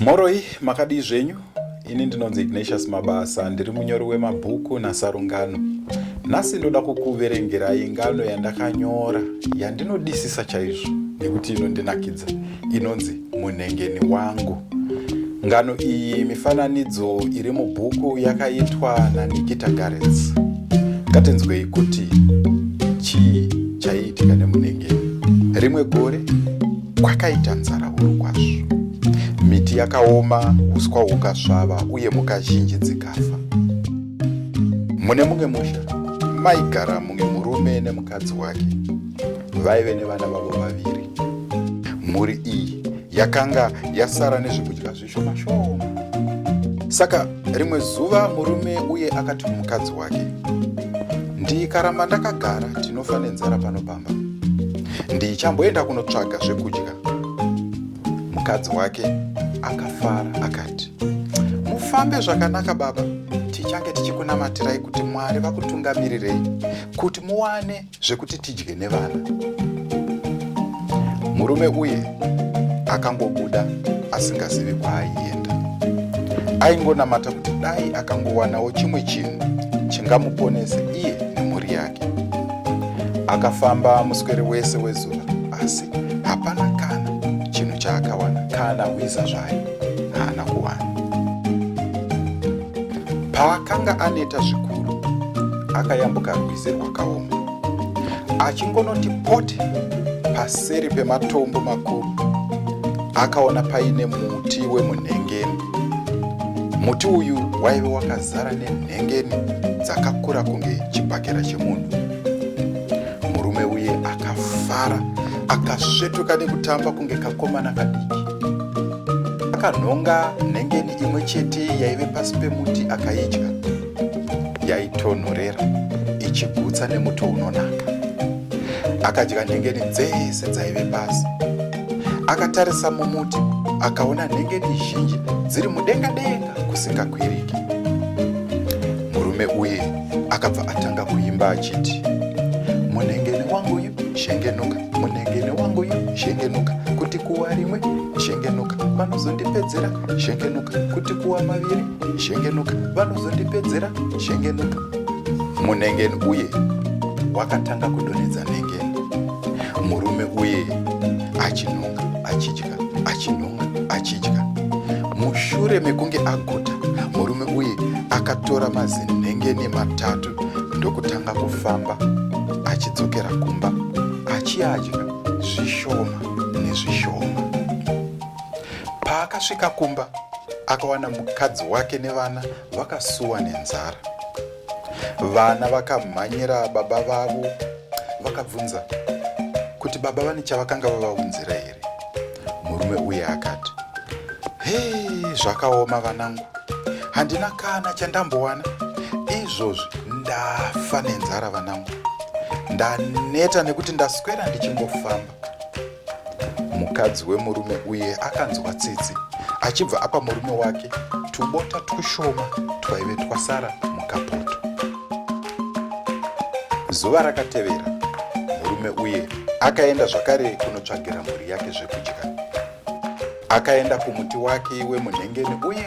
Mhoroi makadii zvenyu? Ini ndinonzi Ignatius Mabasa, ndiri munyori wemabhuku nasarungano. Nhasi ndoda kukuverengerai ngano yandakanyora yandinodisisa chaizvo nekuti inondinakidza inonzi Munhengeni wangu. Ngano iyi mifananidzo iri mubhuku yakaitwa naNikita Garets. Ngatinzwei kuti chii chaiitika nemunenge. Rimwe gore kwakaita nzara huru kwazvo. Miti yakaoma, uswa hukasvava uye mhuka zhinji dzikafa. Mune mumwe musha maigara mumwe murume nemukadzi wake vaive nevana vavo vaviri. Mhuri iyi yakanga yasara nezvekudya zvishoma shoma. Saka rimwe zuva murume uye akati kumukadzi wake, ndikaramba ndakagara tinofa nenzara pano pamba, ndichamboenda kunotsvaga zvekudya. Mukadzi wake akafara akati, mufambe zvakanaka baba, tichange tichikunamatirai kuti Mwari vakutungamirirei kuti muwane zvekuti tidye nevana. Murume uye akangobuda asingazivi kwaaienda. Aingonamata kuti dai akangowanawo chimwe chinhu chingamuponese iye nemhuri yake. Akafamba muswere wese wezuva asi hapana kana chinhu chaakawana kana hwiza zvayo haana kuwana. Paakanga aneta zvikuru, akayambuka rwizi rwakaoma. Achingonoti pote paseri pematombo makuru, akaona paine muti wemunhengeni. Muti uyu waive wakazara nenhengeni dzakakura kunge chibhakera chemunhu. Murume uye akafara, akasvetuka nekutamba kunge kakomana kadiki. Akanhonga nhengeni imwe chete yaive pasi pemuti akaidya yaitonhorera ichigutsa nemuto unonaka akadya nhengeni dzese dzaive pasi akatarisa mumuti akaona nhengeni zhinji dziri mudenga denga kusingakwiriki murume uye akabva atanga kuimba achiti munhengeni wangu uyu shengenuka munhengeni wangu uyu shengenuka kuti kuwa rimwe shengenuka vanozondipedzera shengenuka kuti kuwa maviri shengenuka vanozondipedzera shengenuka munengeni uye wakatanga kudonhedza nengeni murume uye achinunga achidya achinunga achidya mushure mekunge aguta murume uye akatora mazinhengeni matatu ndokutanga kufamba achidzokera kumba achiadya zvishoma nezvishoma Paakasvika kumba akawana mukadzi wake nevana vakasuwa nenzara. Vana vakamhanyira baba vavo vakabvunza kuti baba vane chavakanga vavaunzira here. Murume uye akati, hei zvakaoma vanangu, handina kana chandambowana izvozvi ndafa nenzara vanangu ndaneta nekuti ndaswera ndichingofamba Mukadzi wemurume uye akanzwa tsitsi achibva apa murume wake tubota twushoma twaive twasara mukapoto. Zuva rakatevera murume uye akaenda zvakare kunotsvagira mhuri yake zvekudya. Akaenda kumuti wake wemunhengeni uye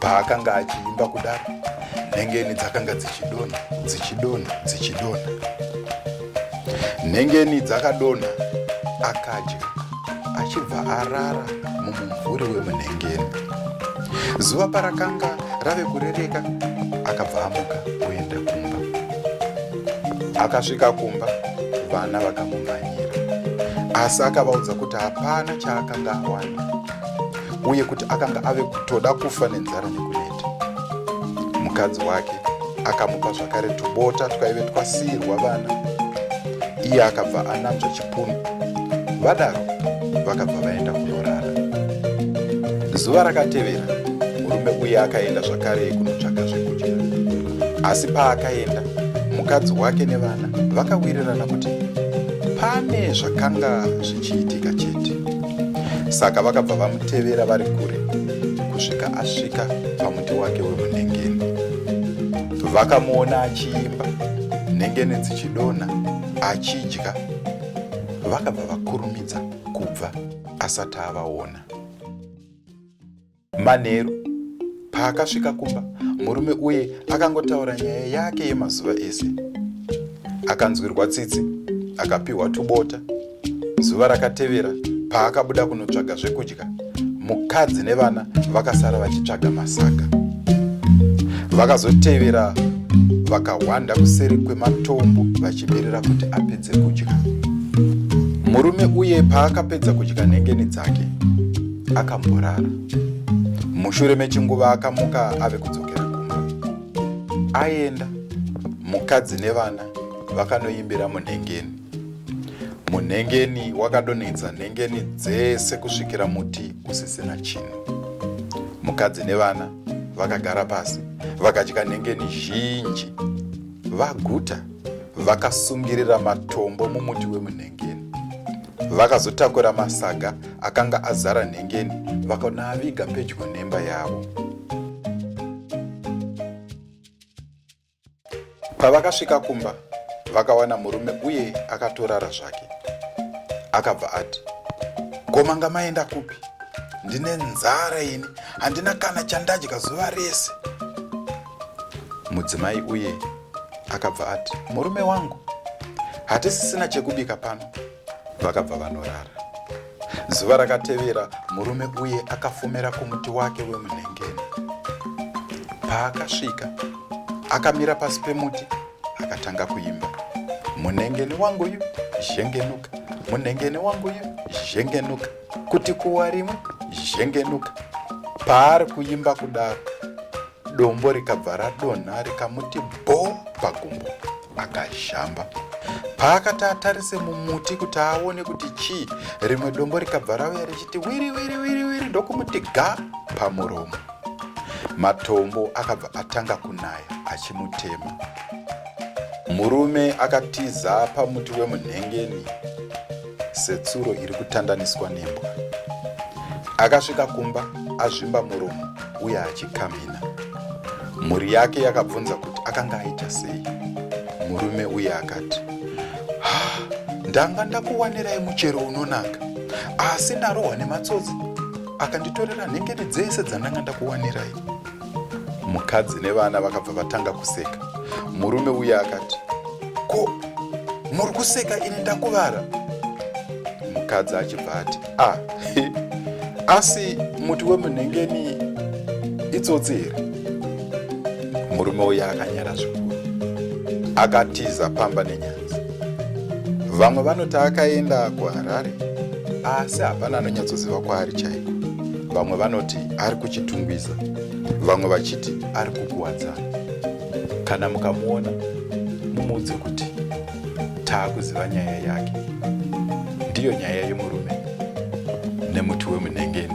Paakanga achiimba kudaro, nhengeni dzakanga dzichidonha, dzichidonha, dzichidonha. Nhengeni dzakadonha, akadya achibva arara mumumvuri wemunhengeni. Zuva parakanga rave kurereka, akabva amuka kuenda kumba. Akasvika kumba, vana vakamumhanyira, asi akavaudza kuti hapana chaakanga awana. uye kuti akanga ave kutoda kufa nenzara nekuneta mukadzi wake akamupa zvakare tubota twaive twasiirwa vana iye akabva ananzva chipunu vadaro vakabva vaenda kunorara zuva rakatevera murume uye akaenda zvakare kunotsvaga zvekudya asi paakaenda mukadzi wake nevana vakawirirana kuti pane zvakanga zvichiitika chete Saka vakabva vamutevera vari kure kusvika asvika pamuti wake wemunhengeni. Vakamuona achiimba, nhengeni dzichidonha, achidya. Vakabva vakurumidza kubva asati avaona. Manheru paakasvika kumba, murume uye akangotaura nyaya yake yemazuva ese. Akanzwirwa tsitsi, akapiwa tubota. Zuva rakatevera paakabuda kunotsvaga zvekudya, mukadzi nevana vakasara vachitsvaga masaga. Vakazotevera vakahwanda kuseri kwematombo vachimirira kuti apedze kudya. Murume uye paakapedza kudya nhengeni dzake, akamborara mushure mechinguva akamuka ave kudzokera kumba aenda mukadzi nevana vakanoimbira munhengeni munhengeni wakadonhedza nhengeni dzese kusvikira muti usisina chinhu mukadzi nevana vakagara pasi vakadya nhengeni zhinji vaguta vakasungirira matombo mumuti wemunhengeni vakazotakura masaga akanga azara nhengeni vakanaaviga pedyo nemba yavo pavakasvika kumba vakawana murume uye akatorara zvake akabva ati komanga maenda kupi ndine nzara ini handina kana chandadya zuva rese mudzimai uye akabva ati murume wangu hatisisina chekubika pano Vakabva vanorara. Zuva rakatevera murume uye akafumera kumuti wake wemunhengeni. Paakasvika, akamira pasi pemuti akatanga kuimba. Munhengeni wangu uyu zhengenuka, munhengeni wangu uyu zhengenuka, kuti kuwa rimwe zhengenuka. Paari kuimba kudaro, Dombo rikabva radonha rikamuti bho pagumbo akazhamba. Paakati atarise mumuti kuti aone kuti chii, rimwe dombo rikabva rauya richiti wiri wiri wiri wiri ndokumuti ga pamuromo. Matombo akabva atanga kunaya achimutema. Murume akatiza pamuti wemunhengeni setsuro iri kutandaniswa nembwa. Akasvika kumba azvimba muromo uye achikamhina. Mhuri yake yakabvunza kuti akanga aita sei. Murume uye akati, ndanga ndakuwanirai muchero unonaka asi ndarohwa nematsotsi akanditorera nhengeri dzese dzandanga ndakuwanirai. Mukadzi nevana vakabva vatanga kuseka. Murume uya akati, ko muri kuseka ini ndakuvara? Mukadzi achibva ati, ah, asi muti wemunhengeni itsotsi here? Murume uya akanyara zvikuru akatiza pamba nenyaya. vamwe vanoti akaenda kuharare asi hapana anonyatsoziva kwaari chaiko vamwe vanoti ari kuchitungwiza vamwe vachiti ari kukuwadzana kana mukamuona mumuudze kuti taakuziva nyaya yake ndiyo nyaya yemurume nemuti wemunhengeni